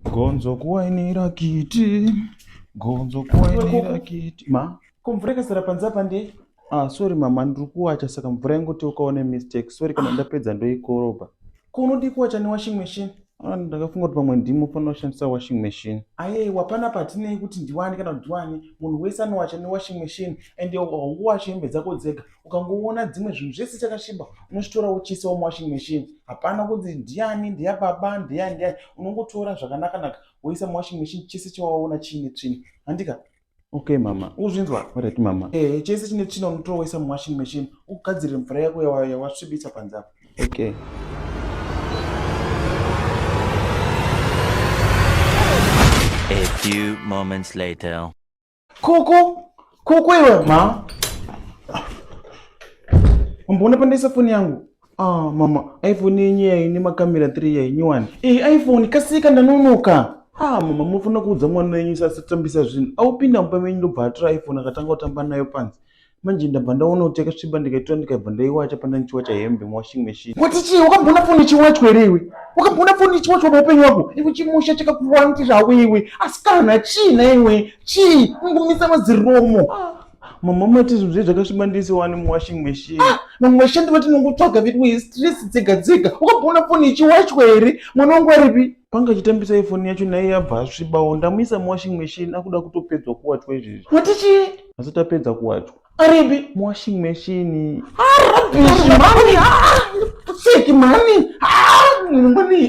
Gonzo kuwainira kiti. Gonzo kuwainira kiti. Ma? Kumvura ikazara panze apa ndei? Ah, sorry mama, ndiri kuwacha saka mvura ingoti ukaone mistake. Sorry kana ndapedza ndoikorobha. Ko unodii kuwacha newashing machine? Ah, ndakafunga kuti pamwe ndimo fanira kushandisa washing machine. Ayewa pana patinei kuti ndiwani kana kuti ndiwani. Munhu wese anowacha newashing machine and haungowachi hembe dzako dzega. ukangoona dzimwe zvinhu zvese chakasviba unochitora wochiisa muwashing machine hapana kunzi ndiyani ndeya baba ndeyani ndeyani unongotora zvakanakanaka woisa muwashing machine chese chawaona chiine tsvina handika okay mama uzvinzwa varati mama ehe chese chine tsvina unotora woisa muwashing machine ugadzirire mvura yako yawasvibisa panze apo okay A few moments later. Kuku, kuku iwe ma. Mbona pandisa foni yangu? Ah, mama, iPhone yenye yayi ne makamera 3 yayi nyuwani. Eh, iPhone kasika ndanonoka. Ah, mama mufuna kuudza mwana wenyu sasitambisa zvinhu. Aupinda mumba menyu ndobva atora iPhone akatanga kutamba nayo panzi. manje ndabva ndaona kuti yakasviba ndikaitora ndikabva ndaiwacha panda ndichiwacha hembe muwashing machine kuti chii wakamboona foni ichiwachwa here iwe wakamboona foni ichiwachwa paupenyu wako iwe chimusha chakakuwanti zvako iwe asikana chii naiwe chii ungomisa maziromo mama mati zvinhu zvei zvakasviba ndisiwani muwashing machine ah, vamwe vashandi vati nongotsvaga vedu westress dzega dzega wakamboona foni ichiwachwa here mwana wangu aripi panga achitambisa ifoni yacho naiye abva asvibawo ndamuisa muwashing machine akuda kutopedzwa kuwachwa izvezvi kuti chii asi tapedza kuwachwa aripi muwashing machine arabishi mani seki mani mani